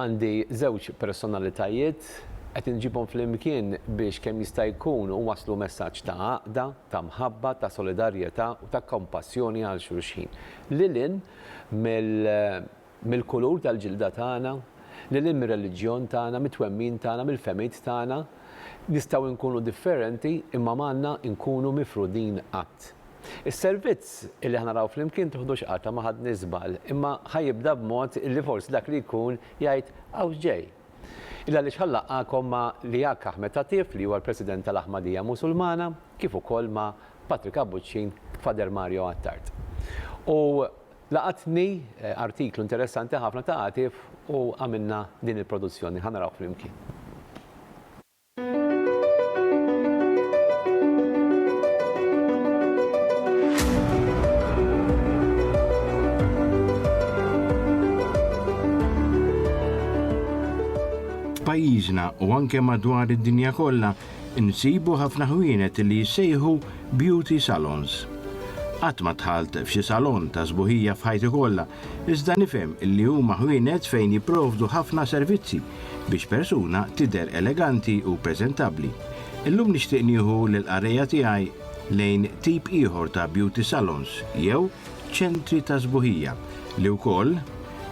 Għandi żewġ personalitajiet, qed inġibhom flimkien biex kemm jista' jkun uwasslu messaġġ ta' għaqda, ta' mħabba, ta' solidarjetà u ta' kompassjoni għal xulxin. Lil hinn mill-kulur tal-ġilda tagħna, lil hinn mir-reliġjon tagħna, mit-twemmin tagħna, mill-fehmiet tagħna, nistgħu nkunu differenti imma m'għandna nkunu mifrudin qatt. Is-servizz li ħa naraw flimkien tiħdux qatta ma ħadni żball, imma ħa jibda b'mod li forsi dak li jkun jgħid hawn x'ġej. Illa għaliex ħa nlaqqagħkom ma' Liaq Ahmed Atif li huwa l-President tal-Aħmadija Musulmana kif ukoll ma' Patrick Abbuċċin, Father Mario Attard. U laqatni artiklu interessanti ħafna ta' Atif u għamilna din il-produzzjoni, ħa naraw flimkien. pajjiżna u anke madwar id-dinja kollha insibu ħafna ħwienet li jissejħu beauty salons. Qatt ma tħalt f'xi salon ta' sbuħija f'ħajti kollha, iżda nifhem li huma ħwienet fejn jipprovdu ħafna servizzi biex persuna tidher eleganti u preżentabbli. Illum nixtieq nieħu lill-qarrejja tiegħi lejn tip ieħor ta' beauty salons jew ċentri ta' sbuħija li wkoll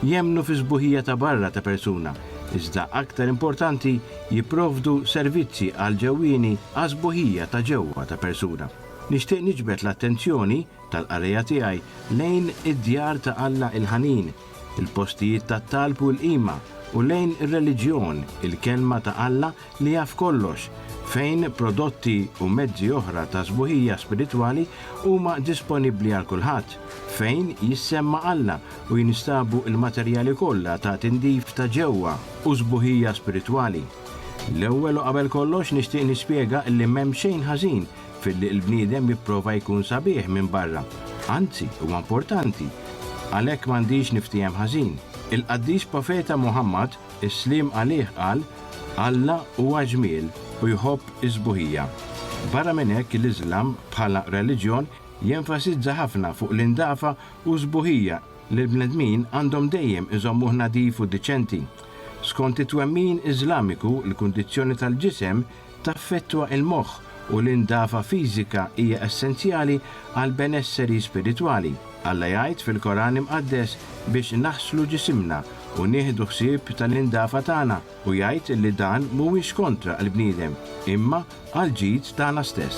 jemmnu fis-sbuħija ta' barra ta' persuna iżda aktar importanti jipprovdu servizzi għall-ġewwieni għas-sbuħija ta' ġewwa ta' persuna. Nixtieq niġbed l-attenzjoni tal-qarrejja tiegħi lejn id-Djar ta' Alla il-Ħanin, il-postijiet tat-talb u l-qima, u lejn ir-reliġjon, il-Kelma ta' Alla li jaf kollox, fejn prodotti u mezzi oħra ta' sbuħija spiritwali huma disponibbli għal kulħadd, fejn jissemma Alla u jinstabu l-materjali kollha ta' tindif ta' ġewwa u sbuħija spiritwali. L-ewwel u qabel kollox nixtieq nispjega li m'hemm xejn ħażin filli l-bniedem jipprova jkun sabiħ minn barra, anzi huwa importanti, għalhekk m'għandix niftiehem ħażin. Il-qaddis profeta Muħammad, is-sliem għalih qal, Alla huwa ġmiel u jħobb is-sbuħija. Barra minn hekk l-Iżlam bħala reliġjon jenfasizza ħafna fuq l-indafa u s-sbuħija li l-bnedmin għandhom dejjem iżommuh nadif u diċenti. Skont it-twemmin Iżlamiku l-kundizzjoni tal-ġisem Taffettwa l-moħħ u l-indafa fiżika hija essenzjali għall-benesseri spiritwali. Alla jgħid fil-Koran Imqaddes biex naħslu ġisimna u nieħdu ħsieb tal-indafa tagħna u jgħid li dan mhuwiex kontra l-bniedem, imma għall-ġid tagħna stess.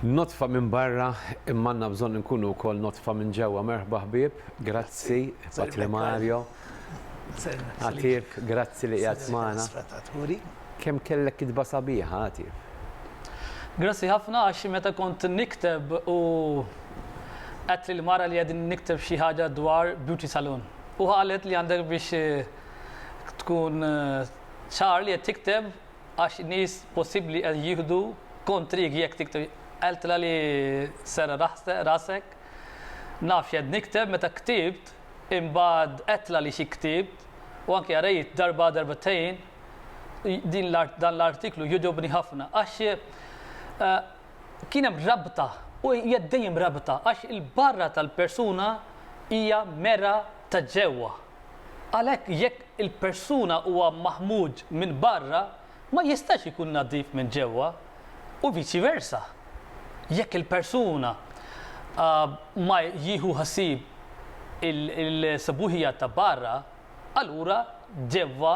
Nodfa minn barra imma għandna bżonn inkunu wkoll nodfa minn ġewwa merħba ħbieb grazzi Patri Mario Għatif grazzi li qiegħed magħna Kemm kellek kitba sabiħa Għatif. Grazzi ħafna għax xi meta kont nikteb u għedt lil mara li qegħdin nikteb xi ħaġa dwar beauty salon u qalet li għandek biex tkun ċar li qed tikteb Għax nies possibli qed jieħdu kontrik jekk tikteb Għeltla li serra' rasek Naf x'qed nikteb meta ktibt Imbagħad Għeltla li xi ktibt U anke qrajt darba darbtejn Din dan l-artiklu jogħġobni ħafna Għax kien hemm rabta u hija dejjem rabta Għax il-barra tal-persuna hija mera ta' ġewwa Għalhekk jekk il-persuna huwa maħmuġ minn barra ma jistax ikun nadif minn ġewwa u viċi versa. Jekk il-persuna ma jieħu ħsieb il-sbuħija ta' barra, allura ġewwa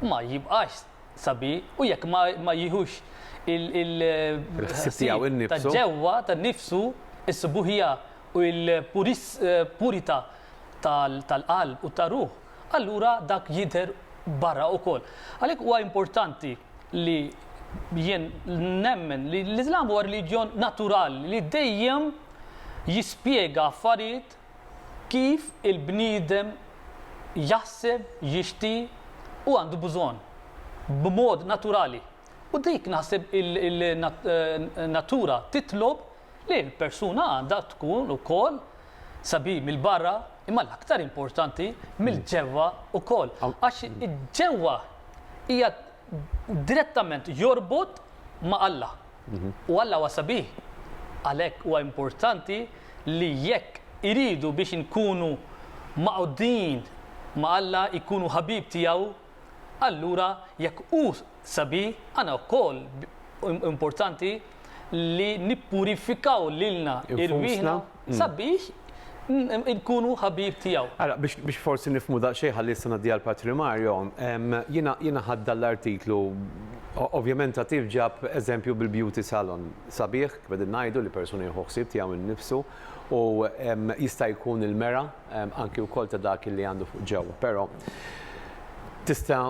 ma jibqax. sabi u jekk ma jieħux il-ħsieb ta' ġewwa ta' nnifsu s-subuħija u l-purità tal-qalb u tar-ruħ, allura dak jidher barra wkoll. Għalhekk huwa importanti li jien nemmen li l-Iżlam huwa reliġjon naturali li dejjem jispjega affarijiet Kif il-bniedem jaħseb, jixti u għandu bżonn, b'mod naturali. U dik naħseb il-natura titlob li l-persuna għandha tkun ukoll sabiħ mill-barra, imma l-aktar importanti mill-ġewwa wkoll. Għax ġewwa hija direttament jorbot ma' Alla. Mhm. U Alla huwa sabiħ. Għalhekk huwa importanti li jekk iridu biex inkunu maqdin ma' Alla jkunu ħabib tiegħu, allura jekk hu sabiħ, għana wkoll importanti li nippurifikaw lilna irwieħna sabiex nkunu ħabib tiegħu. Ara, biex forsi nifmu daqsxejn ħalli issa ngħaddi għal Patri Mario, jiena ħadd dan l-artiklu Ovvjament Atif ġab eżempju bil-beauty salon sabiħ, kif qegħdin ngħidu li persuna jieħu ħsieb tiegħu nnifsu u jista' jkun il-mera anki wkoll ta' dak li għandu fuq ġewwa. Però tista'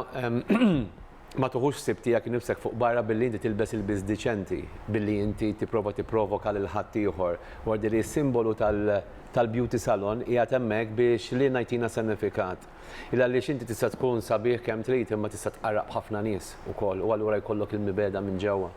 Ma tuħux ħsieb tiegħek innifsek fuq barra billi inti tilbes ilbies diċenti, billi inti tipprova tipprovoka lil ħaddieħor. Gwardi li s-simbolu tal-beauty salon qiegħed hemmhekk biex lilna jtina senifikat. Ilgħaliex inti tista' tkun sabiħ kemm trid imma tista' tqarraq b'ħafna nies ukoll u allura jkollok il-mibegħda minn ġewwa.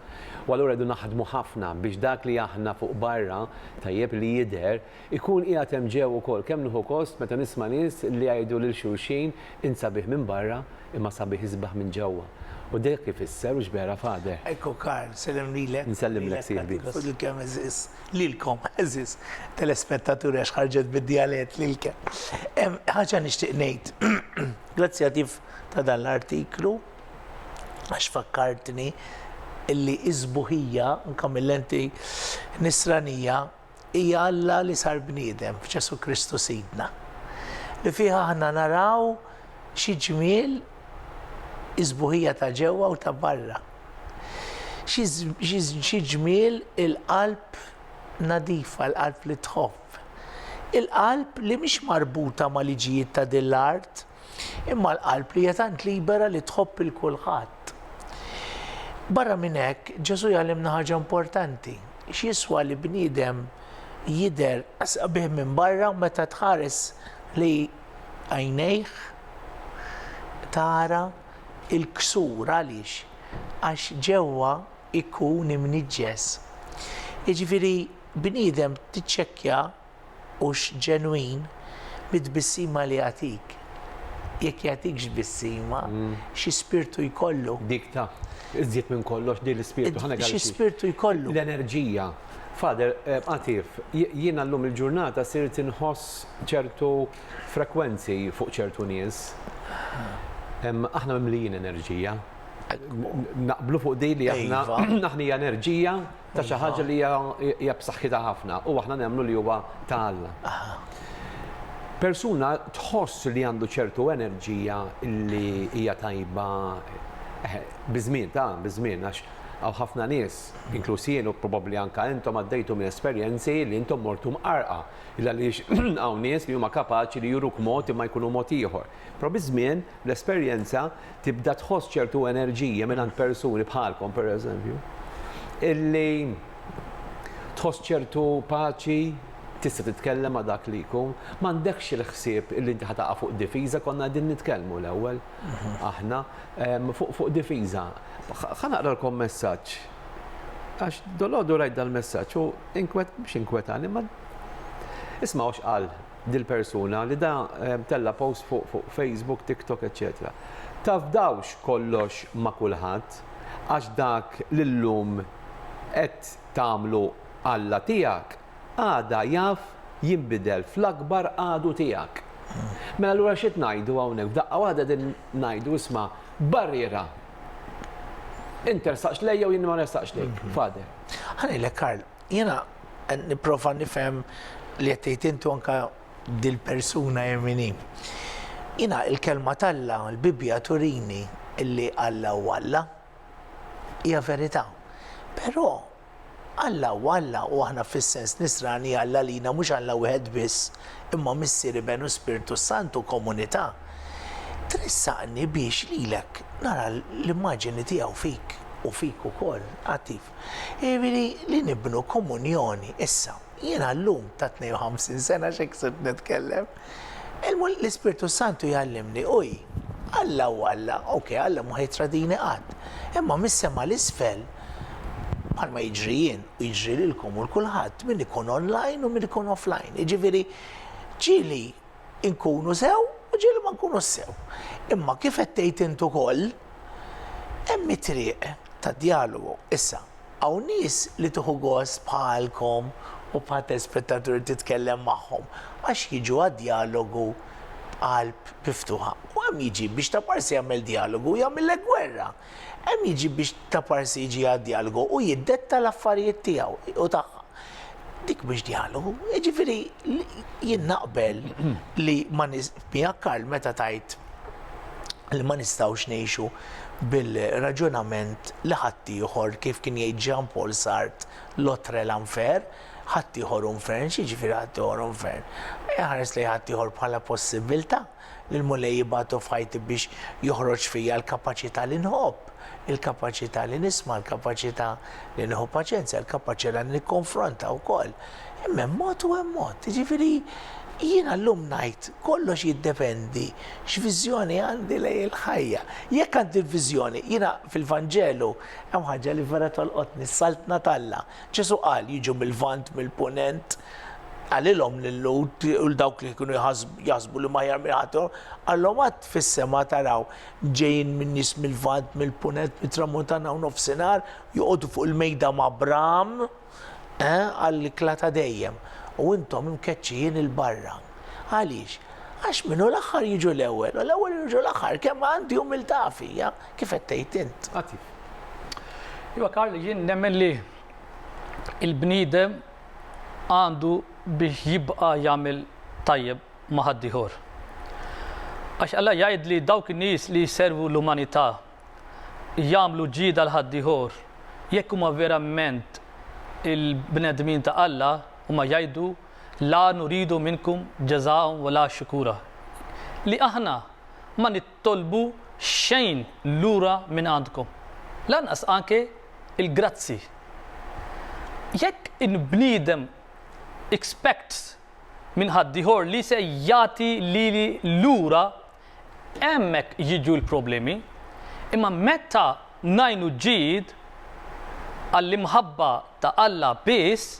U allura rridu naħdmu ħafna biex dak li aħna fuq barra tajjeb li jidher Ikun qiegħed hemm ġew ukoll. Kemm nieħu gost meta nisma' nies li jgħidu lil xulxin, Int sabiħ minn barra, imma sabiħ isbaħ minn ġewwa. U dak ifisser u x'vera fagħdeh. Ecco Karl, sellem lilek. Nsellimlek sieħbi. Lilek u lil kemm għeżież, lilkom għeżież telespettaturi għax ħarġet bid-djalett, lilkem. Ħaġa nixtieq ngħid, grazzi għal tif ta' dan l-artiklu għax fakkartni illi s-sbuħija, anke mill-lenti nisranija, hija Alla li sar bniedem f'Ġesù Kristu Sidna, li fih aħna naraw xi ġmiel is-sbuħija ta' ġewwa u ta' barra, xi ġmiel il-qalb nadifa, il-qalb li tħobb, il-qalb li mhix marbuta mal-liġijiet ta' din l-art, Imma l-qalb li hija tant libera li tħobb 'il kulħadd. Barra minn hekk, Ġesù jgħallimna ħaġa importanti, x'jiswa li bniedem jidher sabiħ minn barra u meta tħares li għajnejh tara l-ksur għaliex? Għax ġewwa jkun imniġġes. Jiġifieri bniedem tiċċekkja hux ġenwin mit-tbissima li jagħtik. Jekk jagħtikx tbissima, xi spirtu jkollu? Dik ta'. Iżjed minn kollox din l-ispirtu. Ħa ngħidha. Xi spirtu jkollu? L-enerġija. Father, Għatif, jiena llum il-ġurnata sirt inħoss ċertu frekwenzi fuq ċertu nies. Aħna mimlijin enerġija. Naqblu fuq din li aħna, aħna hija enerġija. ta' xi ħaġa li hija b'saħħitha ħafna u aħna nemmnu li huwa ta' Alla. Persuna tħoss li għandu ċertu enerġija li hija tajba eh, biż-żmien ta' biż-żmien għax għaw ħafna nies, inkluż jien u probabbli anka intom għaddejtu minn esperjenzi li intom mortu mqarqa, illa li hawn nies li huma kapaċi li juruk mod imma jkunu mod ieħor. Però biż-żmien, bl-esperjenza, tibda tħoss ċertu enerġija mingħand persuni bħalkom pereżempju, illi tħoss ċertu paċi, tista' titkellem ma' dak li jkun, m'għandekx il-ħsieb illi inti ħa taqa' fuq difiża, konna qegħdin nitkellmu l-ewwel aħna fuq difiża. Ħa naqralkom messaġġ għax dolodu rajt dal-messaġġ u inkwet mhux inkwetani ma ismgħu x'qal dil-persuna li da tella' post fuq Facebook, TikTok eċċetera. Tafdawx kollox ma' kulħadd għax dak li llum qed tagħmlu Alla tiegħek għada jaf jinbidel fl-akbar għadu tiegħek. Mela allura x'qed ngħidu hawnhekk? F'daqqa waħda qegħdin ngħidu isma' barriera. Int tersaqx lejja u jien ma nersaqx lejk, Father. Ħa ngħidlek Karl, Jiena qed nipprova nifhem li qed tgħid int u anke dil-persuna hi min hi. Jiena l-kelma t'Alla, l-Bibbja turini li Alla hu Alla. Hija verità. Però Alla hu Alla u aħna fis-sens Nisrani Alla għalina mhux Alla wieħed biss, imma Missier, Iben u Spirtu s-Sant u komunità. Tressaqni biex lilek nara l-immaġini tiegħu fik u fik ukoll. Għati. Jiġifieri li nibnu komunjoni. Issa, jiena llum ta' 52 sena x'hekk sirt nitkellem, l-Ispirtu s-Santu jgħallimni, uj, Alla hu Alla, ok, Alla mhu ħajtradini qatt, imma mis-sema 'l isfel, bħalma jiġri jien u jiġri lilkom u 'l kulħadd, min ikun online u min ikun offline. Jiġifieri, ġieli, Inkunu sew u ġieli ma nkunux sew. Imma kif qed tgħid int ukoll, hemm it-triq tad-djalogu. Issa, hawn nies li tieħu gost bħalkom u bħal telespettaturi titkellem magħhom għax jiġu għad-djalogu b'qalb miftuħa. U hemm jiġi biex ta' parsi jagħmel djalogu jagħmillek gwerra. Hemm jiġi biex ta' parsi jiġi għad-djalgu u jiddetta l-affarijiet tiegħu u tagħha. Dik mhux djalgu. Jiġifieri jien naqbel li ma miegħek Karl meta tgħid li ma nistgħux ngħixu bil-raġunament li ħaddieħor kif kien jgħid Jean Paul Sartre l'autre est l'enfer, ħaddieħor hu nfern, x'jiġifieri ħaddieħor hu nfern? Iħares lejn ħaddieħor bħala possibbiltà. li l-Mulej jibgħatu f'ħajti biex joħroġ fija l-kapaċità li nħobb, il-kapaċità li nisma', l-kapaċità li nieħu paċenzja, l-kapaċità li nikkonfronta wkoll. Imma hemm mod u hemm mod. Jiġifieri jiena llum ngħid kollox jiddependi x'viżjoni għandi lej il-ħajja. Jekk għandi l-viżjoni, jiena fil-Vanġelu hemm ħaġa li vera tolqotni, s-saltna t'Alla. Ġesù qal, Jiġu mil-Lvant, mill-Punent. Qalilhom lil-Lhud u l dawk li kienu jaħsbu li huma aħjar minn ħaddhom, qalhom għad fis-sema taraw ġejjin minn nies mil-Lvant, mill-Punent, mit-Tramuntana u Nofsinhar joqogħdu fuq il-mejda ma' Abraham għall-ikla ta' dejjem, u intom imkeċċijin 'il barra. Għaliex? Għax min hu l-aħħar jiġu l-ewwel, u l-ewwel jiġu l-aħħar, kemm għandi umiltà fija! kif qed tgħid int. Għatif. Iva Karl, jien nemmen li il-bniedem għandu biex jibqa' jagħmel tajjeb ma' ħaddieħor. Għax Alla jgħid li dawk in-nies li jservu l-umanità jagħmlu ġida l ħaddieħor jekk huma verament il-bnedmin ta' Alla huma jgħidu la nuridu minnkum ġeżaw wala xukura. Li aħna ma tolbu xejn lura minn għandkom, lanqas anke l-grazzi. Jekk il-bniedem expects minn ħaddieħor li se jagħti lili lura, hemmhekk jiġu l-problemi. Imma meta ngħinu ġid għall-imħabba ta' Alla biss,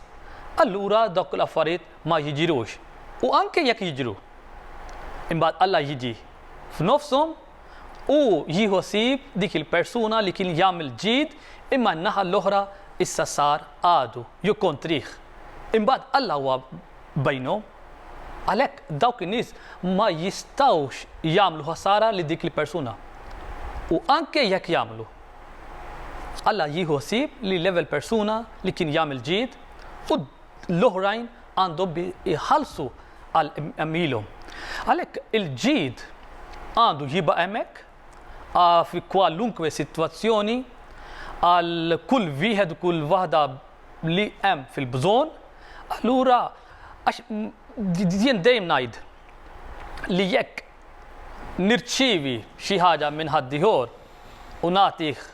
allura dawk l-affarijiet ma jiġrux. U anke jekk jiġru, imbagħad Alla jiġi. f'nofshom u jieħu ħsieb dik il-persuna li kien jagħmel ġid imma n-naħa l-oħra issa sar għadu jew kontrih. Imbagħad Alla huwa bejnhom. Għalhekk dawk in-nies ma jistgħux jagħmlu ħasara lil dik il-persuna. U anke jekk jagħmlu, Alla jieħu ħsieb li l-ewwel persuna li kien jagħmel ġid u l-oħrajn għandhom bi jħallsu għal għemilhom. Għalhekk il-ġid għandu jibqa' hemmhekk fi kwalunkwe sitwazzjoni għal kull wieħed u kull waħda li hemm fil-bżonn. Allura għax jien dejjem ngħid li jekk nirċievi xi ħaġa minn ħaddieħor u nagħtih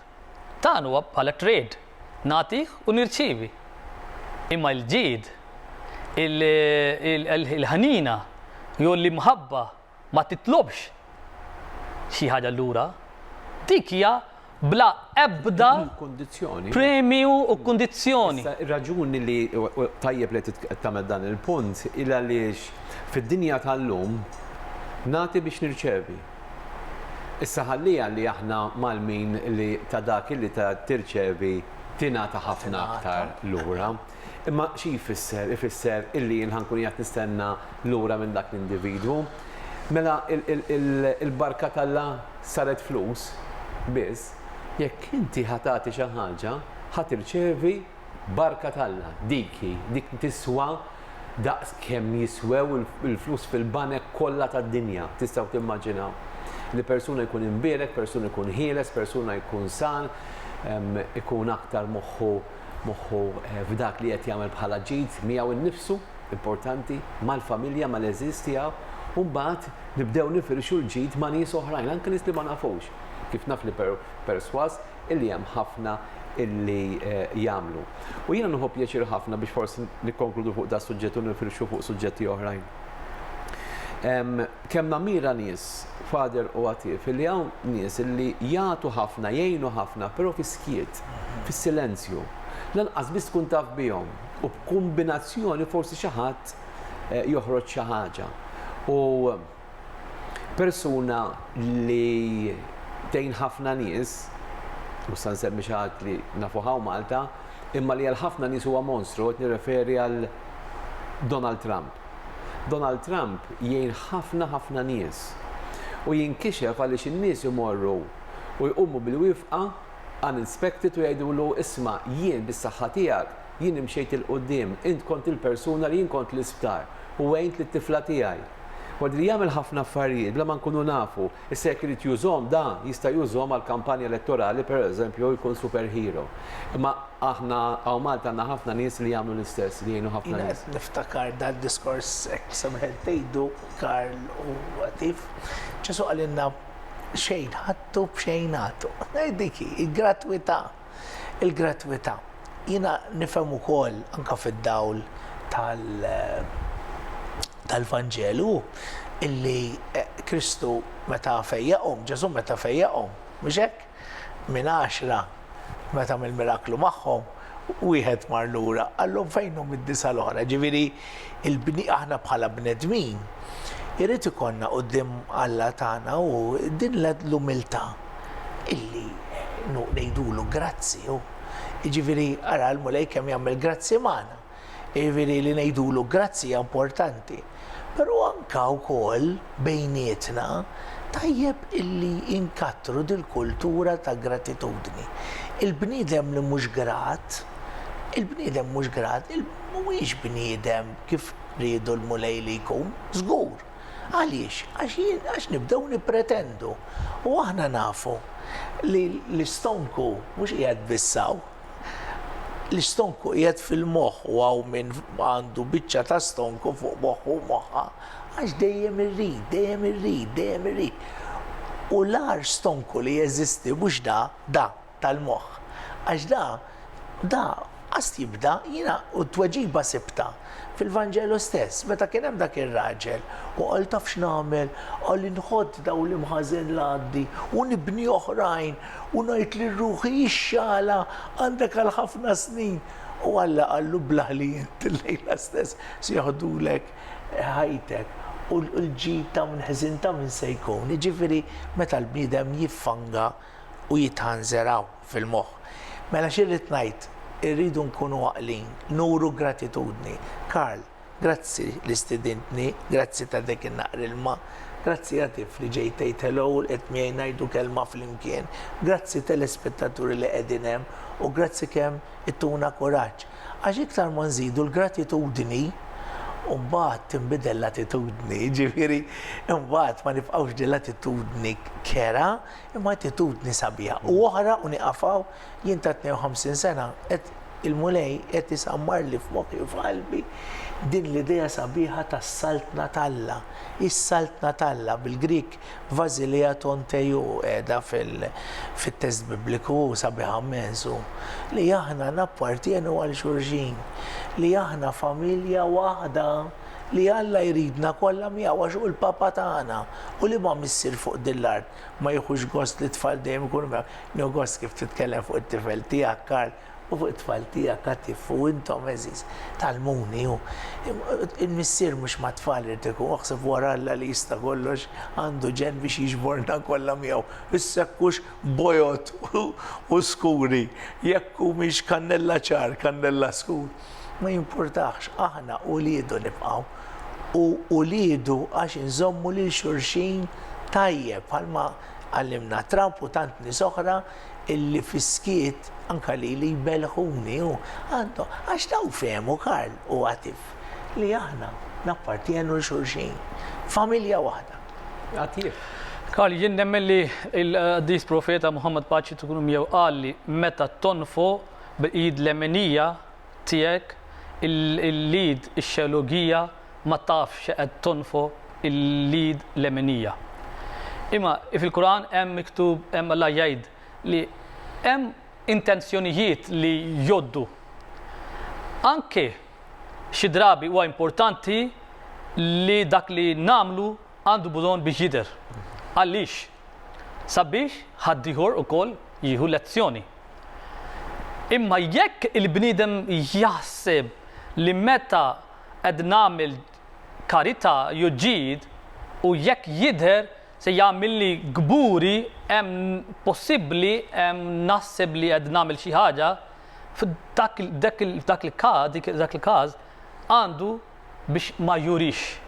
Dan huwa bħala trade, nagħti u nirċievi. Imma l-ġid, il-ħniena jew l-imħabba ma titlobx xi ħaġa lura. Dik hija bla ebda premju u kundizzjoni. Ir-raġuni li tajjeb li tagħmel dan il-punt hi għaliex fid-dinja tal-lum nagħti biex nirċievi. Issa ħalliha li aħna mgħallmin li ta' dak illi tirċevi tingħata ħafna aktar lura. Imma xi jfisser? Ifisser illi jien ħa nkun qiegħed nistenna lura minn dak l-individwu. Mela il-barka t'Alla saret flus biss? Jekk inti ħa tagħti xi ħaġa, ħa tirċevi Barka t'Alla, dik hi, dik tiswa daqs kemm jiswew il-flus fil-banek kollha tad-dinja, tistgħu timmaġinaw. Li persuna jkun imbierek, persuna jkun ħieles, persuna jkun sal, ikun aktar moħħu moħħu f'dak li qed jagħmel bħala ġid miegħu nnifsu, importanti, mal-familja, mal-għeżież tiegħu, u mbagħad nibdew nifirxu l-ġid ma' nies oħrajn, anke nies li ma nafux. Kif naf li persważ illi hemm ħafna illi jagħmlu. U jiena nieħu pjaċir ħafna biex forsi nikkonkludu fuq da suġġett u nifirxu fuq suġġetti oħrajn. Kemm namira nies, fader u għatif, illi hawn nies illi jagħtu ħafna, jgħinu ħafna, però fi skiet, fis-silenzju. Lanqas biss tkun taf bihom u b'kumbinazzjoni forsi xi ħadd joħroġ xi ħaġa. U Persuna li tgħin ħafna nies, mhux se nsemmi xi ħadd li nafuh hawn Malta, imma li għal ħafna nies huwa monstru qed nirreferi għal Donald Trump. Donald Trump jgħin ħafna ħafna nies u jinkixef għaliex in-nies imorru u jqumu bil-wifqa unexpected u jgħidulu isma' jien bis-saħħa tiegħek Jien imxejt 'il quddiem, int kont il-persuna li jien kont l-isptar u għint lit-tifla tiegħi. Ward li jagħmel ħafna affarijiet bla ma nkunu nafu, issa jekk irid jużhom da jista' jużhom għall-kampanja elettorali pereżempju jkun super hero. Imma aħna hawn Malta għandna ħafna nies li jagħmlu l-istess, li jgħinu ħafna nies. Jiena qed niftakar dal-diskors hekk semħet tgħidu Karl u Għatif. Ġesù qalilna xejn ħadtu b'xejn agħtu. Dik hi, il-gratwità. Il-gratwità, jiena nifhem ukoll anke fid-dawl tal-Vanġelu illi Kristu meta fejjaqhom, Ġesù meta fejjaqhom, mhux hekk? Minn għaxra meta għamel miraklu magħhom, wieħed mar lura qalhom fejnhom id-disgħa l-oħra. Ġifieri aħna bħala bnedmin irid ikollna quddiem Alla tagħna u din l-umiltà. illi nu ngħidulu grazzi hu. Jiġifieri ara l-Mulej kemm jagħmel grazzi magħna. Jiġifieri li ngħidulu grazzi hija importanti. Però anka wkoll bejnietna tajjeb illi inkattru dil-kultura ta' gratitudni. Il-bniedem li mhux grat, il-bniedem mhux grat, mhuwiex bniedem kif riedu l-Mulej li jkun, żgur. Għaliex? Għax nibdew nippretendu. U aħna nafu li l-istonku mhux qiegħed biss hawn. L-istonku qiegħed fil-moħħ u hawn min għandu biċċa ta' stonku fuq moħħu u moħħa għax dejjem irrid, dejjem irrid, dejjem irrid. U l-agħar stonku li jeżisti mhux da, da. tal-moħħ għax da da qast jibda jiena u t-tweġiba sibtha fil-Vanġelu stess meta kien hemm dak ir-raġel u qal taf x'nagħmel qal inħodd dawl imħażen l-għaddi u nibni oħrajn u ngħid lil ruħi ixxagħalha għandek għal ħafna snin u Alla qallu blah li int illejla stess se joħdulek ħajtek u l-ġid ta' minn ħżin ta' minn se jkun. Jiġifieri meta l-bniedem jiffanga u jitħanżeraw fil-moħħ. Mela x'irrid ngħid? Irridu nkunu għaqlin, nuru gratitudni. Karl, Grazzi li stidintni, grazzi ta' dik in-naqra ilma. Grazzi għatif li ġejt tgħid hello u lqgħet miegħi ngħidu kelma flimkien. Grazzi telespettaturi li qegħdin hemm u grazzi kemm ittuna kuraġġ. Għax iktar ma nżidu l-gratitudni, imbagħad tinbidel l-attitudni, jiġifieri imbagħad ma nibqgħux din l-attitudni kerha, Imma attitudni sabiħa. U oħra u niqafaw jien ta' 52 sena qed il-Mulej qed isammarli f'moħħi u f'qalbi din l-idea sabiħa tas-Saltna t'Alla. Is-Saltna t'Alla, bil-Grieg Vasilea ton Theou qiegħda fit-test Bibliku u sabiħa mmens hu li aħna nappartjenu għal xulxin, li aħna familja waħda. Li Alla jridna kollha miegħu għax hu l-Papa tagħna. U liema missier fuq din l-art ma jieħux gost li t-tfal dejjem ikunu miegħu? Nieħu gost kif titkellem fuq it-tifel tiegħek, Karl, u fuq it-tfal tiegħek, Atif, u intom għeżież, tgħallmuni. U l-missier mhux mat-tfal irid ikun, oħseb wara Alla li jista' kollox, għandu ġenn biex jiġborna kollha miegħu, biss hekk hux bojod u skuri, jekk humiex kannella ċar, kannella skur. Ma jimpurtax, aħna uliedu nibqgħu, u uliedu għax inżommu lil xulxin tajjeb bħalma għallimna Trump u tant nies oħra illi fis-skiet anke lili jbellħuni u għandhom għax dawn fehmu Karl u Għatif li aħna nappartjenu l xulxin. Familja waħda. Għatif. Karl, jien nemmen li il-qaddis profeta Muhammad Paċi tkun miegħu qal li meta tonfo Bil-id leminija tiegħek il-id ix-xelugija ma tafx x'qed tonfoq il-id leminija. Imma fil-Quran hemm miktub, hemm Alla jgħid li hemm intenzjonijiet li jgħoddu. Anke xi drabi huwa importanti li dak li nagħmlu għandu bżonn biex jidher. Għaliex? sabiex ħaddieħor ukoll jieħu lezzjoni. Imma jekk il-bniedem jaħseb li meta qed nagħmel karità jew ġid u jekk jidher se jagħmilli kburi hemm possibbli hemm naħseb li qed nagħmel xi ħaġa f'dak il-każ għandu biex ma jurix.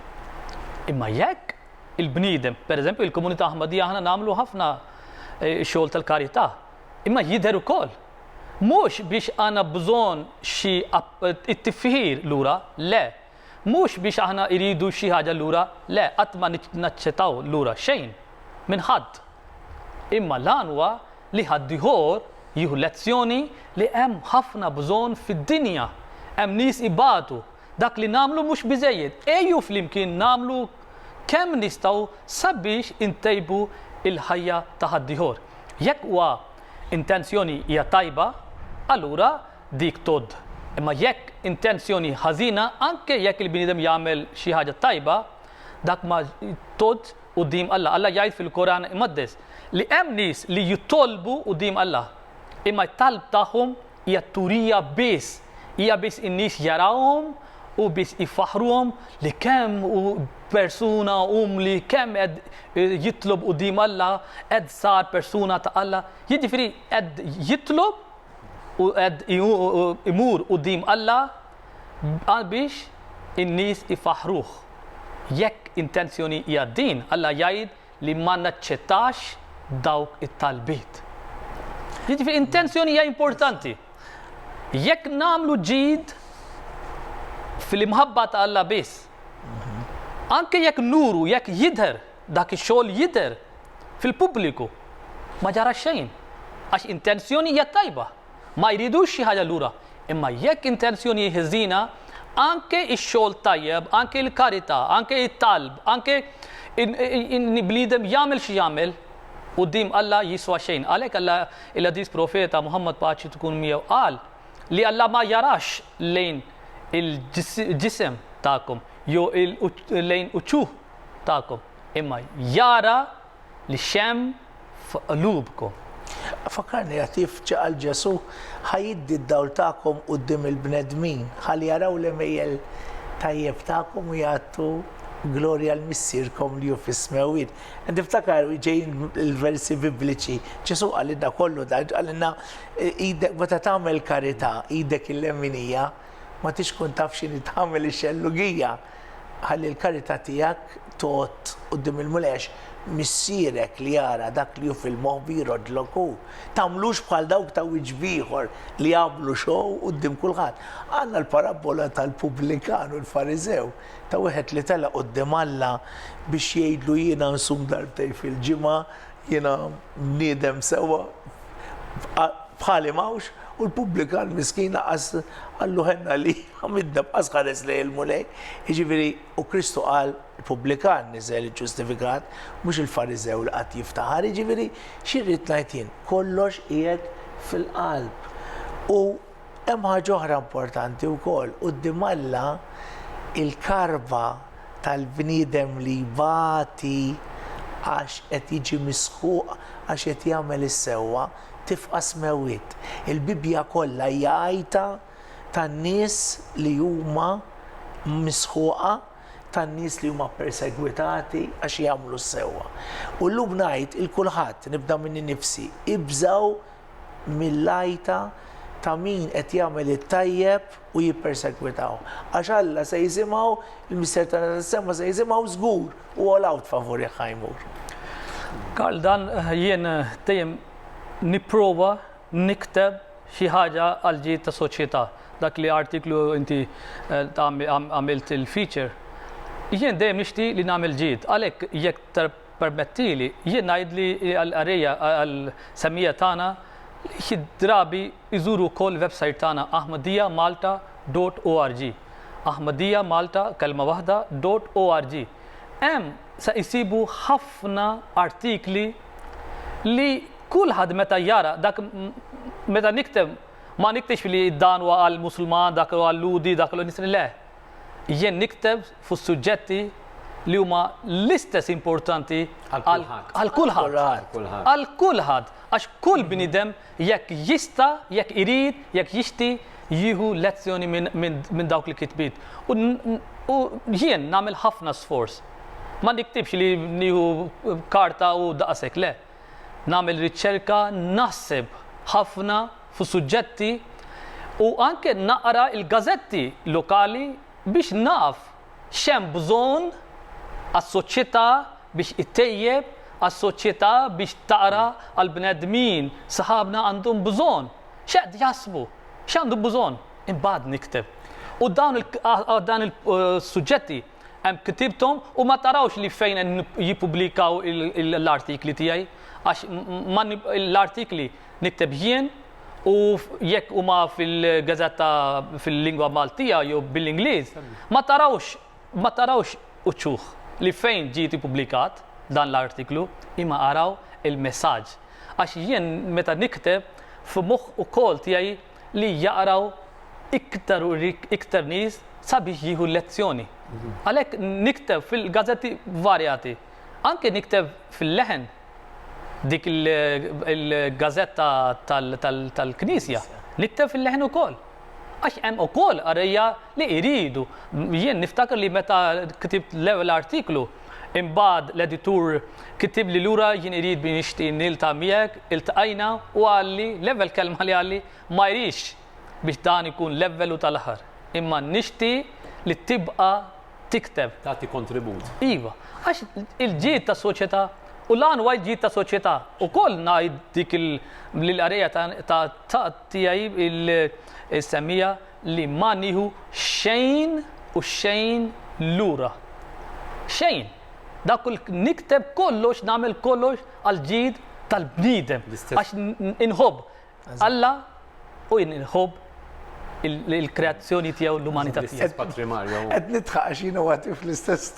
Imma jekk il-bniedem, per eżempju il-komunità Ahmadija aħna nagħmlu ħafna eh, xogħol tal-karità, imma jidher ukoll. Mhux biex għandna bżonn xi it-tifħir lura, le. Mhux biex aħna iridu xi ħaġa lura, le, qatt ma naċċettaw lura xejn minn ħadd. Imma l-għan huwa li ħaddiehor jieħu lezzjoni li hemm ħafna bżonn fid-dinja. Hemm nies ibatu. Dak li nagħmlu mhux biżżejjed. Ejju flimkien nagħmlu kemm nistgħu sabiex intejbu l-ħajja ta' ħaddiehor. Jekk huwa intenzjoni hija tajba, allura dik tgħodd. Imma jekk intenzjoni ħażina, anke jekk il-bniedem jagħmel xi ħaġa tajba, dak ma tgħoddx. quddiem Alla. Alla jgħid fil-Koran Imqaddes li hemm nies li jitolbu quddiem Alla, imma t-talb tagħhom hija t-turija biss, hija biss in-nies jarawhom u biss ifaħħruhom li kemm hu persuna umli, kemm qed jitlob quddiem Alla, qed sar persuna ta' Alla. Jiġifieri qed jitlob u qed imur quddiem Alla biex in-nies ifaħħruh. Jekk intenzjoni hija din, Alla jgħid li ma naċċettax dawk it-talbiet. Jiġifieri intenzjoni hija importanti. Jekk nagħmlu ġid fil-imħabba ta' Alla biss, anke jekk nuru, jekk jidher dak ix-xogħol jidher fil-pubbliku, ma ġara xejn għax intenzjoni hija tajba. Ma jridux xi ħaġa lura. Imma jekk intenzjoni ħżiena, anke x-xogħol tajjeb, anke l-karità, anke t-talb, anke bniedem jagħmel xi jagħmel, quddiem Alla jiswa xejn. Għalhekk Alla, il-Għadis Profeta Muħammad paċi tkun miegħu qal li Alla ma jarax lejn il-ġisem tagħkom jew lejn uċuħ tagħkom, imma jara li xemm f'qlubkom. Fakkarni għad kif qal Ġesù, Ħa jiddi d-dawl tagħkom quddiem il-bnedmin, ħalli jaraw l-għemejjel tajjeb tagħkom u jagħtu glorja lil Missierkom li hu fis-smewwiet. Qed niftakar ġejjin il-versi Bibliċi, Ġesù qalilna kollu dan, qalilna meta tagħmel karità, idek il-leminija ma tix tkun taf x'inhi tagħmel ix-xellugija. Ħalli l-karità tiegħek tgħodd quddiem il-Mulej għax Missierek li jara dak li hu fil-moħbi jroddlok hu. Tagħmlux bħal dawk ta' wiċċ b'ieħor li jagħmlu xow quddiem kulħadd. Għandna l-parabbola tal-pubblikan u l-Fariżew, ta' wieħed li telaq quddiem Alla biex jgħidlu jiena nsum darbtejn fil-ġimgħa, Jiena bniedem sewwa, bħali m'hawnx, u l-pubblikan miskin lanqas qallu ħenna li għamiltna b'qas ħares lejn il-Mulej. Jiġifieri, u Kristu qal, il-pubblikan niżel iġġustifikat, mhux il-Fariżew li qagħad jiftaħar. Jiġifieri, xi rrid ngħid jien? Kollox qiegħed fil-qalb. U Hemm ħaġa oħra importanti wkoll, quddiem Alla il-karba tal-bniedem li jbati għax qed jiġi misħuq għax qed jagħmel is-sewwa tifqas mewt. Il-Bibbja kollha hija għajta tan-nies li huma misħuqa, tan-nies li huma ppersegwitati għax jagħmlu s-sewwa. U llum ngħid 'il kulħadd, nibda minni nnifsi, ibżgħu mill-għajta ta' min qed jagħmel it-tajjeb u jippersegwitaw. Għax Alla se jżimgħu, il-Mister tagħna tas-sema se jżimgħu żgur u all out favorih ħa jmur. Karl dan jien dejjem nipprova nikteb xi ħaġa għal ġid ta' soċjetà. Dak li artiklu inti għamilt il-feature. Jien dejjem nixti li nagħmel ġid. Għalhekk jekk Permettili jien ngħid li l-qarrejja għall-semmija tagħna xi drabi jżuru wkoll il-websajt tagħna Ahmadiyya Malta dot org. Ahmadiyya Malta, kelma waħda, dot org. Hemm se jsibu ħafna artikli li kulħadd meta jara dak meta nikteb ma niktibx li dan huwa għall-Musulman, dak huwa għal-Lhudi, dak huwa għal-Nisrani, le. Jien nikteb fuq suġġetti li huma l-istess importanti għal kulħadd. Għal kulħadd. Għax kull bniedem jekk jista', jekk irid, jekk jixti jieħu lezzjoni minn dawk il-kitbiet. U jien nagħmel ħafna sforz. Ma niktibx li nieħu karta u daqshekk, le. nagħmel riċerka, naħseb ħafna fuq suġġetti u anke naqra l-gażetti lokali biex naf x'hemm bżonn għas-soċjetà biex ittejjeb għas-soċjetà biex tara għall-bnedmin sħabna għandhom bżonn, x'qed jaħsbu, x'għandhom bżonn. Imbagħad nikteb. U dawn il-suġġetti. Hemm ktibthom u ma tarawx li fejn jippubblikaw l-artikli tiegħi għax l-artikli nikteb jien u jekk huma fil-gazzetta fil-lingwa Maltija jew bil-Ingliż ma tarawx ma tarawx uċuħ li fejn ġie ippubblikat dan l-artiklu imma araw il-messaġġ għax jien meta nikteb f'moħħ ukoll tiegħi li jaqraw iktar u iktar nies sabiex jieħu l-lezzjoni. Għalhekk nikteb fil-gazzetti varjati. Anke nikteb fil-leħen dik il-gazzetta tal-Knisja, nikteb fil-leħen ukoll. Għax hemm ukoll għarrejja li jridu. Jien niftakar li meta ktibt l-ewwel artiklu, Imbagħad l-editur kitibli lura jien irid min jixtieq niltaqa' miegħek, iltqajna u qalli l-ewwel kelma li qalli ma jridx biex dan ikun l-ewwel u tal-aħħar, imma nixtieq li tibqa' tikteb. Tagħti kontribut. Iva, għax il-ġid tas-soċjetà u l-għan huwa l-ġid tas-soċjetà. Ukoll ngħid dik lill-qarrejja ta' tiegħi l-semmija li ma nieħu xejn u xejn lura. Xejn! Dak li nikteb kollox, nagħmel kollox għall-ġid tal-bniedem. Għax inħobb Alla u inħobb il-kreazzjoni tiegħu, l-umanità tiegħu. Qed nidħaq għax jiena wati fl-istess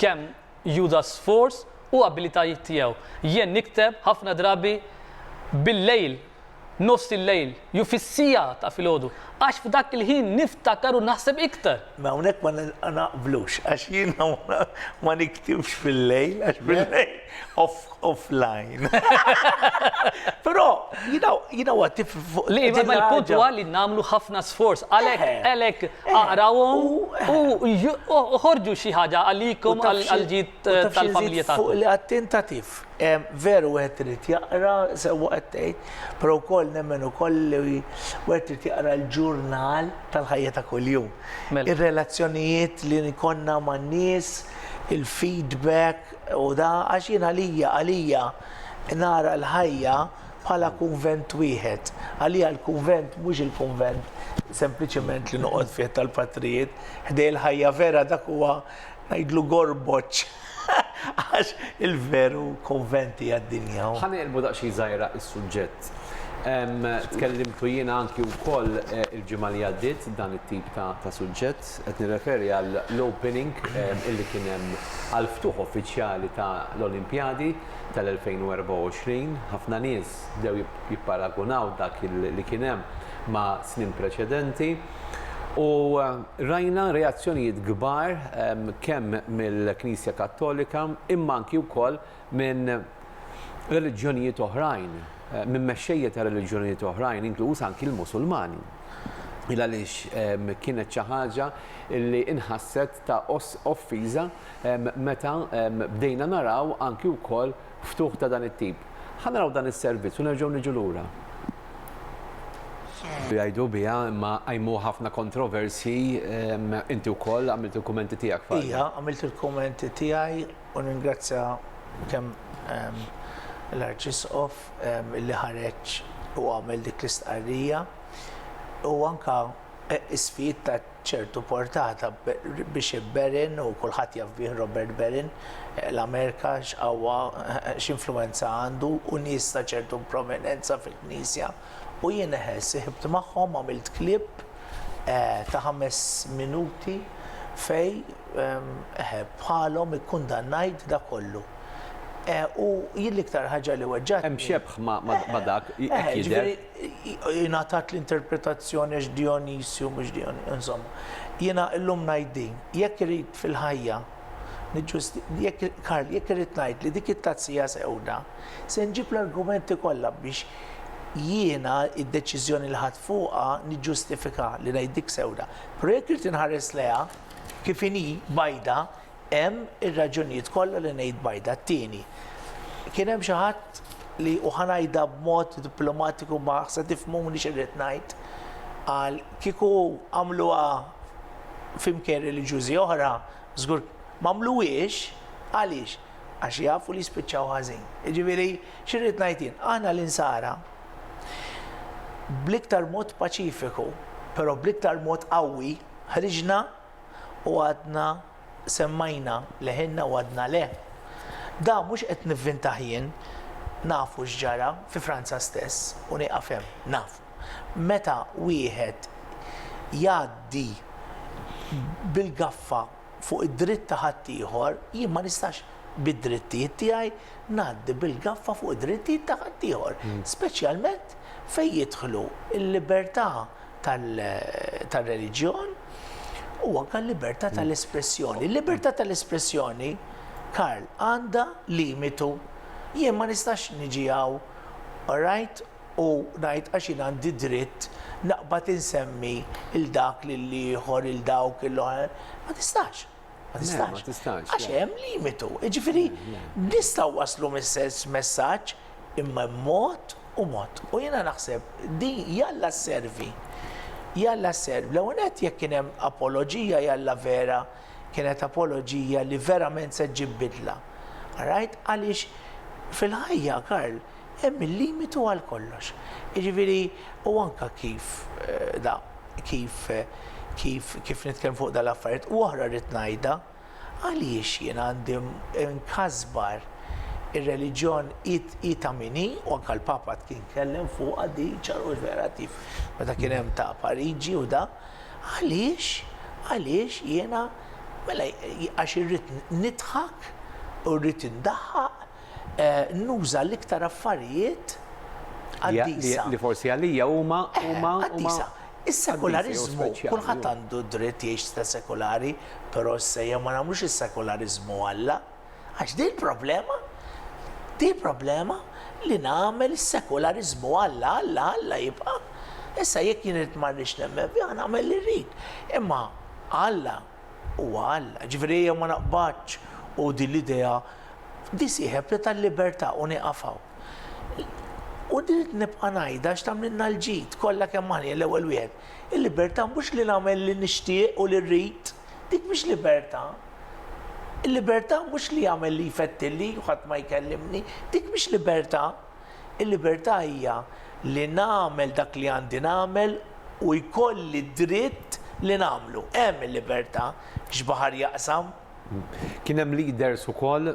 kemm juża sforz u abilitajiet tiegħu. Jien nikteb ħafna drabi bil-lejl, nofs il-lejl, jew fis-siegħa ta' filgħodu, għax f'dak il-ħin niftakar u naħseb iktar. Ma hawnhekk ma naqblux, għax jiena ma niktibx fil-lejl, għax bil-lejl. offline. Però, you know what, if... Li, ma l-punt huwa li namlu ħafna sforz, għalek, eh. għalek, eh. għarawom, eh. u uħorġu xi ħaġa għalikom għal-ġid tal-familja ta' fuq li għattentativ. Veru għet rrit jaqra, sewa għettejt, pero koll nemmen u koll li għet rrit jaqra l-ġurnal tal-ħajja ta' kull-jum. Mela. Il-relazzjonijiet li nikonna ma' nis, il-feedback, U da għax jien għalija, għalija, nara l-ħajja bħala kunvent wieħed. Għalija l-kunvent mhux il-kunvent sempliċement li noqgħod fih tal-patrijiet, ħdej il-ħajja vera dak huwa ngħidlu gorboċ. Għax il-veru kunventi għad-dinja. Ħanelbu daqsxejn żgħira is-suġġett. Tkellimtu jiena anki wkoll eh, il-ġimgħa li għaddiet dan it-tip ta' suġġett. Qed nirreferi għall-opening illi kien hemm għall-ftuħ uffiċjali ta' l-Olimpjadi tal-2024. Ħafna nies bdew jipparagunaw dak li kien hemm ma' snin preċedenti u rajna reazzjonijiet kbar kemm mill-Knisja Kattolika imma anki wkoll minn reliġjonijiet oħrajn, minn mexxejja ta' reliġjonijiet oħrajn, inkluż anki l-Musulmani. Il għaliex kienet xi ħaġa li inħasset ta' offiża meta bdejna naraw anki wkoll ftuħ ta' dan it-tip. Ħa naraw dan is-servizz u nerġgħu niġu lura. Jgħidu biha imma qajmu ħafna kontroversji inti wkoll għamilt il-kummenti tiegħek. Ija, għamilt il-kummenti tiegħi U nringrazzja kemm l-Arċisqof li ħareġ u għamel dik l-istqarrija u anke ismijiet ta' ċertu portata biex Berin u kulħadd jaf bih Robert Berin l-Amerika x'qawwa x'influwenza għandu u nies ta' ċertu prominenza fil-Knisja. U jien eħe, siħibt magħhom għamilt clip ta' ħames minuti fej eħe bħalhom ikkundannajt dak kollu. U jien l-iktar ħaġa li weġġagħtni. Hemm xebħ ma' dak, hekk jidher. Ingħatat l-interpretazzjoni għax Dijonisju mhux Dijonisju, insomma. Jiena llum ngħid din, jekk irrid fil-ħajja, Karl, jekk irrid ngħid li dik it-tazzija sewda, Se nġib l-argumenti kollha biex jiena d-deċiżjoni li ħadt fuqha niġġustifika li ngħiddik sewda. Però jekk irid inħares lejha kif inhi bajda, hemm ir-raġunijiet kollha li ngħid bajda. T-tieni, kien hemm xi ħadd li u ħa ngħidha b'mod diplomatiku ma se tifhmuni x'irrid ngħid, qal kieku għamluha f'imkien reliġjużi oħra, żgur m'għamluhiex għaliex? Għax jafu li jispiċċaw ħażin. Jiġifieri, xi rrid ngħid jien? Aħna l-insara bl-iktar mod paċifiku, però bl-iktar mod qawwi, ħriġna u għadna semmajna leħinna u għadna le. Da mhux qed nivvintaħ jien, nafu x'ġara fi Franza stess u nieqaf hemm, nafu. Meta wieħed jgħaddi bil-gaffa fuq id-dritt ta' ħaddieħor, jien ma nistax bid-drittijiet tiegħi ngħaddi bil-gaffa fuq id-drittijiet ta' ħaddieħor, speċjalment fejn jidħlu l-libertà tar-reliġjon u anke l-libertà tal-espressjoni. Il-libertà tal-espressjoni, Karl, għandha limitu. Jien ma nistax niġi hawn, orajt, u ngħid għax jien għandi dritt naqbad insemmi lil dak, lil ieħor, lil dawk, lil oħrajn, ma tistax. Ma tistax. Għax hemm limitu. Jiġifieri nistgħu waslu messess messaġġ imma mod u mod. U jiena naħseb din jalla servi. Jalla servi. L-ewwel qed jekk kien hemm apoloġija jalla vera kienet apoloġija li verament se ġġib bidla. Rajt għaliex fil-ħajja Karl Hemm il-limitu għal kollox. Jiġifieri, u anke kif da, kif, kif, kif nitkellem fuq dan l-affarijiet, u oħra rrid ngħidha, għaliex jien għandi nkasbar ir-reliġjon hi, hi ta' min hi, u anke l-Papa kien tkellem fuqha di ċar u vera kif meta kien hemm ta' Pariġi u da, għaliex, għaliex jiena, mela għax irrid nidħak u rrid indaħħaq, Nuża l-iktar affarijiet qaddisa. Li forsi għalija huma, huma, huma. Qaddisa. Is-sekulariżmu, kulħadd għandu d-dritt jgħix sta sekulari, però issa jew ma nagħmlux is-sekulariżmu Alla. Għax din il-problema, din il-problema li nagħmel is-sekulariżmu Alla, Alla, Alla jibqa'. Issa jekk jien irid ma rridx nemmen fih, nagħmel li rrid. Imma Alla Huwa Alla, jiġifieri ejja ma naqbadx u din l-idea nisieħeb tal-libertà u nieqaf hawn. U rrid nibqa' ngħidha għax tagħmlilna l-ġid kollha kemm aħna jien l-ewwel wieħed. Il-libertà mhux li nagħmel li nixtieq u li rrid, dik mhix libertà. Il-libertà mhux li jagħmel li jfettilni u ħadd ma jkellimni, dik mhix libertà. Il-libertà hija li nagħmel dak li għandi nagħmel u jkolli d-dritt li nagħmlu. Hemm il-libertà, x'baħar jaqsam? Kien hemm leaders ukoll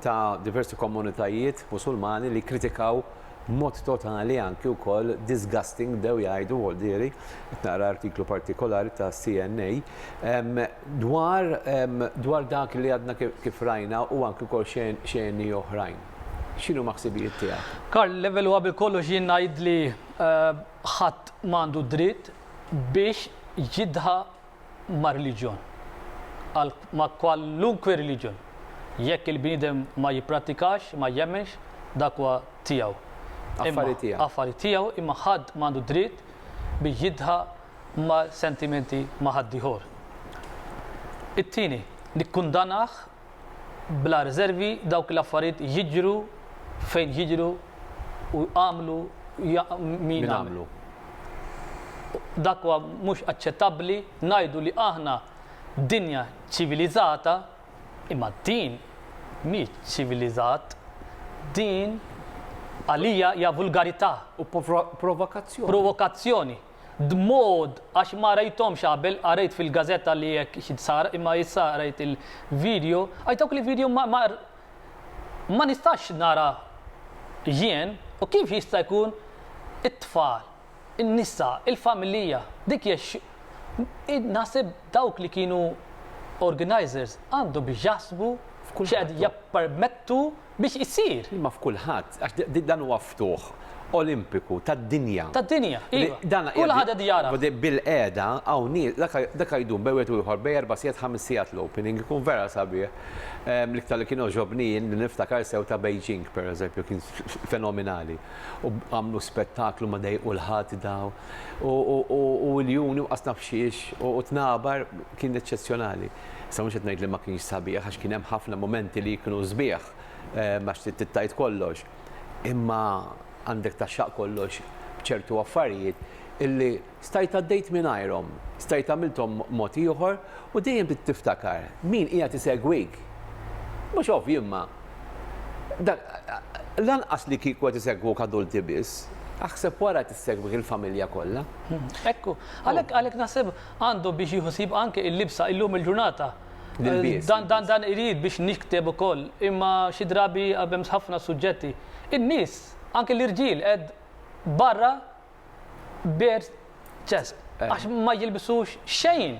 ta' diversi komunitajiet Musulmani li kkritikaw b'mod totali anki wkoll disgusting bdew jgħidu Waldieri, qed naqra artiklu partikolari ta' CNA, dwar dwar dak li għadna kif rajna u anki wkoll xeni oħrajn. X'inhuma ħsibijiet tiegħek? Karl, l-ewwel u qabel kollox jien ngħid li ħadd ma għandu dritt biex jidha ma' reliġjon, għal ma' kwalunkwe reliġjon. Jekk il-bniedem ma jipprattikax, ma jemmenx, dak huwa tiegħu. Affari tiegħu. Affari tiegħu, imma ħadd ma għandu dritt biex jidha ma' sentimenti ma' ħaddieħor. It-tieni, nikkundanah bla riżervi dawk l-affarijiet jiġru fejn jiġru u għamlu min għamlu. Dak huwa mhux aċċettabbli ngħidu li aħna dinja ċiviliżata imma din mhix ċiviliżat, din għalija hija vulgarità u provokazzjoni. Dmod għax ma rajthomx qabel qarejt fil gazetta li hekk xi sar imma issa rajt il video għax dawk li video ma ma ma nistax nara jien u kif jista jkun it tfal in nisa il familija dik hija x id naħseb dawk li kienu organizers għandhom jaħsbu x'qed jappermettu biex issir. Imma f'kulħadd, għax dan huwa ftuħ Olimpiku tad-dinja. Tad-dinja, iva. Kulħadd qed jagħraf. Bilqiegħda hawn nies, dak jdum bejn wieħed u ieħor bejn erba' sigħat, ħames sigħat l-opening, ikun vera sabiħ. L-iktar li kien għoġobni jien li niftakar sew ta' Beijing, pereżempju, kien fenominali. U għamlu spettaklu ma dejqu l-ħadd daw. U iljuni u qasna f'xiex u tnabar kien eċċezzjonali. Issa mhux qed ngħid li ma kienx sabiħ għax kien hemm ħafna mumenti li kienu sbieħ għax trid tittajt kollox. Imma għandek taxxaq kollox b'ċertu affarijiet illi stajt għaddejt mingħajrhom, stajt għamilthom mod ieħor u dejjem trid tiftakar min qiegħed isegwik. Mhux ovvju imma lanqas li kieku qed isegwuk adulti biss, aħseb wara qed issegwik il-familja kollha. Hekk hu. Għalhekk naħseb Għandu biex jieħu sib anke il-libsa illum il-ġurnata. Dan irid biex nikteb ukoll, imma xi drabi għabemx ħafna suġġetti. In-nies, anke l-irġiel qed barra bare chest, għax ma jilbsux xejn.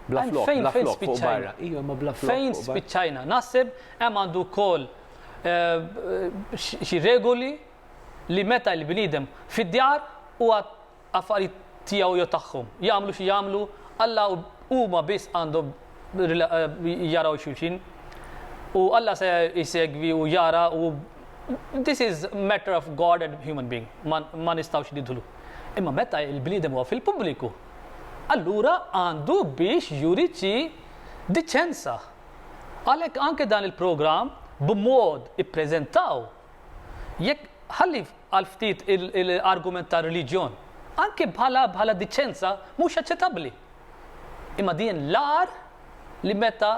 Bla flokk, fejn spiċċajna? Fejn spiċċajna? Naħseb hemm għandu wkoll xi regoli li meta l-bniedem fid-djar huwa affarijiet tiegħu jew tagħhom. Jagħmlu xi jagħmlu, Alla u huma biss għandhom jaraw xulxin. U Alla se jsegwi u jara u this is matter of God and human being, ma nistgħux nidħlu. Imma meta l-bniedem huwa fil-pubbliku, allura għandu biex juri xi diċenza. Għalhekk anke dan il-programm b'mod ippreżentaw. Jekk ħalli għal ftit l-argument tar-reliġjon, anke bħala bħala diċenza mhux aċċettabbli. Imma din l-agħar li meta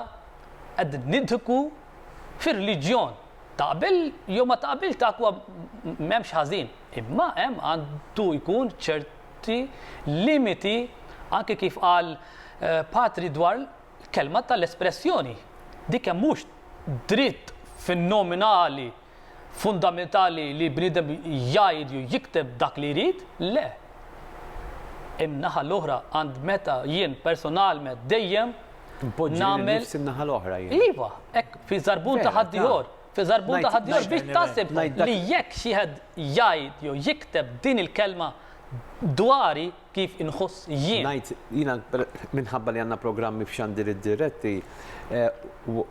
qed nidħku fir-reliġjon taqbel jew ma taqbilx dak huwa m'hemmx ħażin, imma hemm għandu jkun ċerti limiti anke kif qal Patri dwar Kelma tal-espressjoni, dik hemm mhux dritt fin-nominali fundamentali li bniedem jgħid jew jikteb dak li jrid, le. In-naħa l-oħra għand meta jien personalment dejjem nagħmel. Npoġġi n-naħa l-oħra jien. Iva, hekk fi żarbun ta' ħaddieħor fi żarbun ta' ħaddieħor biex taħseb li jekk xi ħed jgħid jew jikteb din il-kelma dwari kif inħoss jien. Ngħid jiena minħabba li għandna programmi f'xandiriet diretti,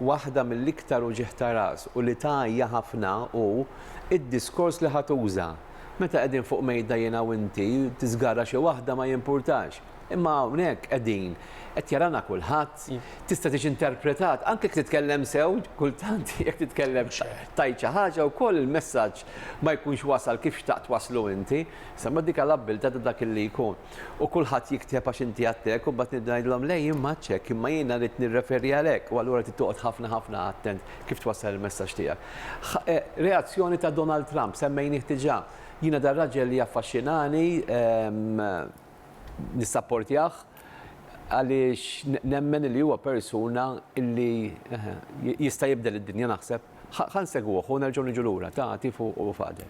waħda mill-iktar uġigħ ta' ras u li tgħajja ħafna hu d-diskors li ħa tuża. Meta qegħdin fuq mejda jiena u inti, tiżgarra xi waħda ma jimpurtax. Imma hawnhekk qegħdin, qed jarana kulħadd, tista' tiġi interpretat, anke jekk titkellem sew, kultant jekk titkellem tgħid xi ħaġa wkoll il-messaġġ ma jkunx wasal kif xtaqt twasslu inti. Semma dik l-abbiltà ta' dak li jkun. U kulħadd jikteb għax inti għattek u mbagħad nibda ngħidilhom le jien m'għadtx hekk imma jiena rrid nirreferi għal hekk u allura trid toqgħod ħafna ħafna attent kif twassal il-messaġġ tiegħek. E, reazzjoni ta' Donald Trump semmejnih diġà. Jiena dar raġel li jaffaxxinani ehm, nissapportjah għaliex nemmen li huwa persuna li eh, jista' jibdel id-dinja naħseb. Ħan segwuh u nerġgħu niġu lura ta' tifu u fader.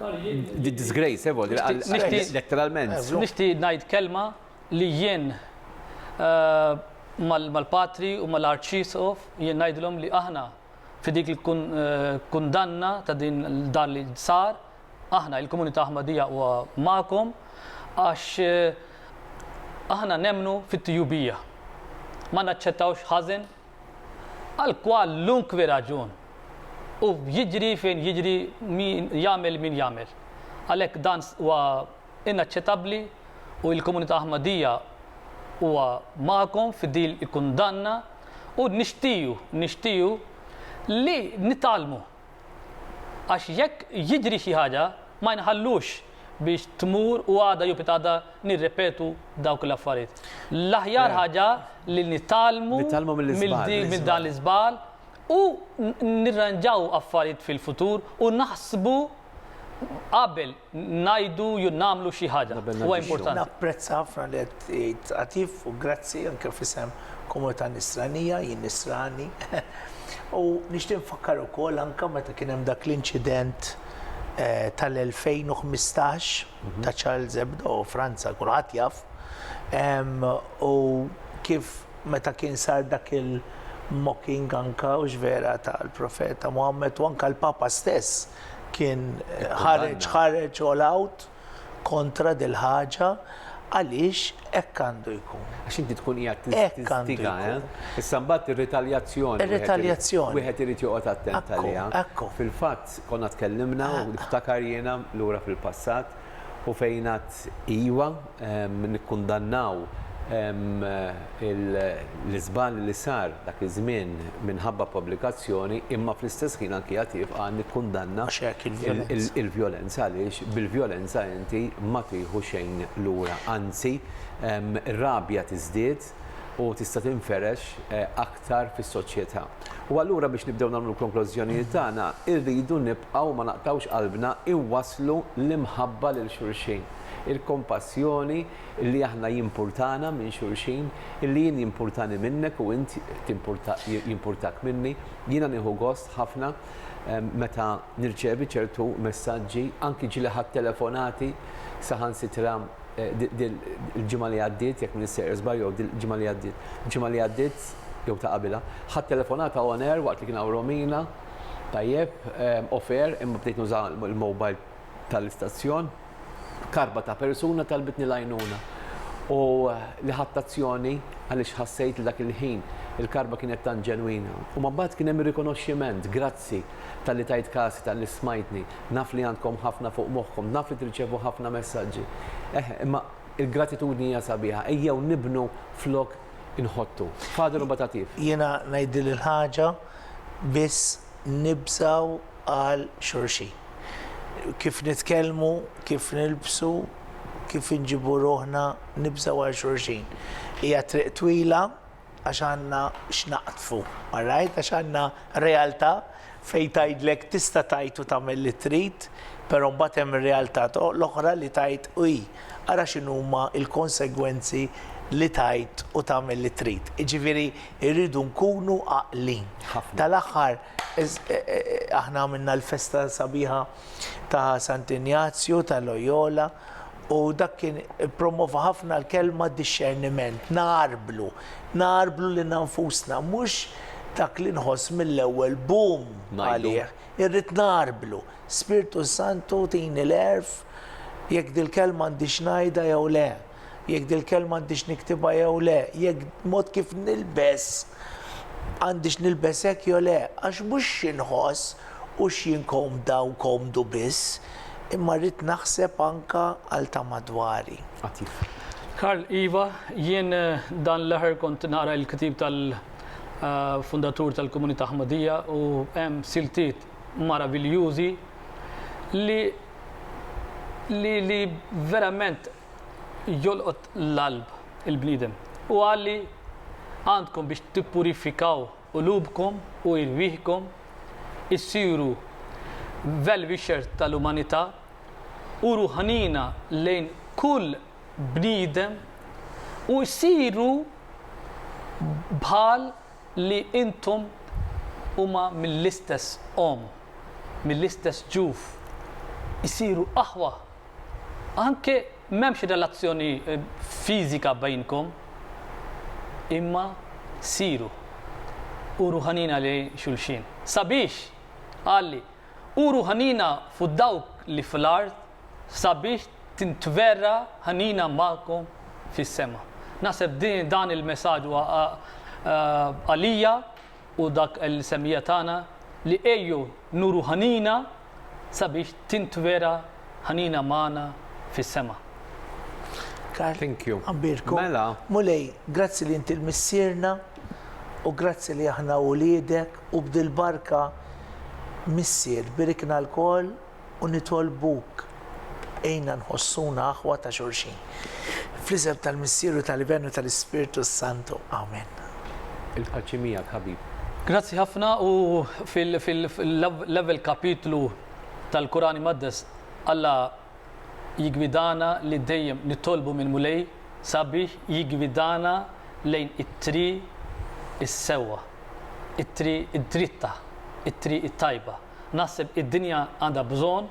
Disgraceful, letteralment. Nixtieq ngħid kelma li jien mal-Patri u mal-Arċisqof jien ngħidilhom li aħna fi dik il-kundanna ta' din dan li sar, aħna il-Komunità Aħmadija huwa magħkom għax aħna nemmnu fit-tjubija. Ma naċċettawx ħażen. Għal kwalunkwe raġun. U jiġri fejn jiġri min jagħmel min jagħmel. Għalhekk dan huwa inaċċetabbli u l-komunità Ahmadija huwa magħkom fi din il-kundanna u nixtiequ nixtiequ li nitgħallmu. Għax jekk jidhri xi ħaġa, ma nħallux biex tmur u għada jew pitgħada nirrepetu dawk l-affarijiet. L-aħjar ħaġa li nitgħallmu minn dan l-iżball u nirranġaw affarijiet fil-futur u naħsbu qabel ngħidu jew nagħmlu xi ħaġa. Huwa importanti. Napprezza ħafna li qed tgħid għatif u grazzi anke f'isem komunità Nisranija, jien Nisrani. U nixtieq nfakkar ukoll anke meta kien hemm dak l-inċident eh, tal-2015 mhm. ta' Charles Hebdo Franza kulħadd jaf u kif meta kien sar dak il- mocking anka u ġvera tal-profeta Muhammad u anka l-Papa stess kien ħareġ ħareġ all out kontra dil-ħaġa għaliex hekk għandu jkun. Għax inti tkun qiegħed tistiga, eh? Issa mbagħad ir-ritaljazzjoni. Ir-ritaljazzjoni. Wieħed irid joqgħod attent għaliha. Fil-fatt konna tkellimna u niftakar jiena lura fil-passat u fejn għad iva, nikkundannaw l-iżball li sar dak iż-żmien minħabba pubblikazzjoni, imma fl-istess ħin anki għad jibqa' nikkundanna l-vjolenza għaliex bil-vjolenza inti ma tieħu xejn lura, anzi r-rabja tiżdied u tista' tinferex aktar. iktar fis-soċjetà. U allura biex nibdew nagħmlu l-konklużjonijiet tagħna, irridu nibqgħu ma naqtgħux qalbna inwasslu l-imħabba lil xulxin, il-kompassjoni li aħna jimpurtana minn xulxin, illi jien jimpurtani minnek u int jimpurtak minni. Jiena nieħu gost ħafna meta nirċevi ċertu messaġġi, anki ġieli ħadt telefonati saħansitra il-ġimgħa li għaddiet, jekk minn sejjer żball jew il-ġimgħa li għaddiet, il-ġimgħa li għaddiet jew ta' qabilha, ħadd telefonata on air waqt li kien hawn Romina, tajjeb, off air, imma bdejt nuża l-mobile tal-istazzjon, karba ta' persuna talbitni l-għajnuna. U li ħadt azzjoni għaliex ħassejt li dak il-ħin il-karba kienet tant ġenwina. U mbagħad kien hemm ir-rikonoxximent, grazzi talli tajt kas, talli smajtni. Naf li għandkom ħafna fuq moħħkom, naf li tirċevu ħafna messaġġi. Eħ, imma il-gratitudni hija sabiħa, ejjew nibnu flok inħottu. Father u batatif. Jiena ngħidil il-ħaġa biss nibżgħu għal xulxin. Kif nitkellmu, kif nilbsu, kif inġibu ruħna, nibżgħu għal xulxin. Hija triq twila, Għax għandna x'naqdfu, alright? Għax għandna realtà fejn tgħidlek tista' tgħid u tagħmel li trid, però mbagħad hemm ir-realtà l-oħra li tgħid uii, ara x'inhuma l-konsegwenzi li tgħid u tagħmel li trid. Jiġifieri rridu nkunu għaqlin. Tal-aħħar aħna għamilna l-festa sabiħa ta' Sant' Injazju ta' Loyola u dak kien ippromova ħafna l-kelma dixxerniment, ngħarblu, ngħarblu lilna nfusna, mhux dak li nħoss mill-ewwel boom għalih, irrid ngħarblu. Spirtu Santu tini l-għerf jekk dil-kelma għandix ngħidha jew le. Jekk dil-kelma għandix niktibha jew le, jekk mod kif nilbes għandix nilbes hekk jew le, għax mhux xi nħoss u x'jien komda u komdu biss, imma rrid naħseb anke għal ta' madwari. Għatif. Karl, Iva, jien dan l-aħħar kont naqra l-ktieb tal-fundatur tal-komunità Ħmadija u hemm siltiet maraviljużi li li li verament jolqot l-qalb il-bniedem. U qal li għandkom biex tippurifikaw qulubkom u irwieħkom, issiru well-wisher tal-umanità u ruħaniena lejn kull bniedem u issiru bħal li intom huma mill-istess omm, mill-istess ġuf, issiru aħwa Anke m'hemmx relazzjoni fiżika bejnkom, imma siru u ruħanina lejn xulxin. Sabiex, qalli, u ruħanina fuq dawk li fl-art sabiex tintverra ħanina magħkom fis-sema. Naħseb dan il-messaġġ huwa għalija u dak l-insemmija tagħna li ejju nuru ħnina sabiex tintwera ħnina magħna fis-sema. Karl. Thank you. Abbirku. Mela. Mulej, grazzi li inti l-missierna u grazzi li aħna uliedek u bdil-barka missier birikna l-kol u nitolbuk għinna nħossuna aħwa ta' xulxin. Fl-isem tal-Missieru tal-Iben u tal-Ispirtu s-Santu. Amen. Il-paċi miegħek ħabib. Grazzi ħafna u fil-level kapitlu tal-Kurani Maddes Alla jigwidana li dejjem nitolbu minn Mulej sabiex jigwidana lejn it-tri is-sewwa, it-tri id-dritta, it-tri it-tajba. Naħseb id-dinja għandha bżonn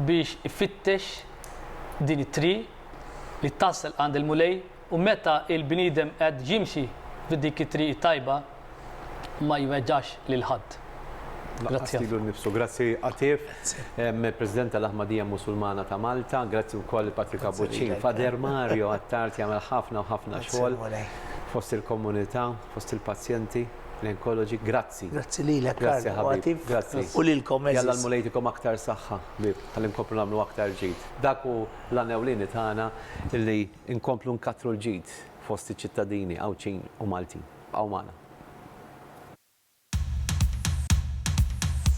biex ifittex din it-triq li tasal għand il-Mulej u meta l-bniedem qed jimxi f'dik it-triq it-tajba ma jweġġax lil ħadd. Lanqas lilu nnifsu. Grazzi Għatif, President tal-Aħmadija Musulmana ta' Malta. Grazzi wkoll lil Patrick Abbuċċin, Father Mario Attard jagħmel ħafna u ħafna xogħol fost il-komunità, fost il-pazjenti, l-onkoloġi. Grazzi. Grazzi lilek Karl u Atif u lilkom għeżież. Jalla l-Mulej jtikom aktar saħħa ħbieb ħalli nkomplu nagħmlu aktar ġid. Dak hu l-għan ewlieni tagħna li nkomplu nkattru l-ġid fost iċ-ċittadini Għawdxin u Maltin. Bqgħu magħna.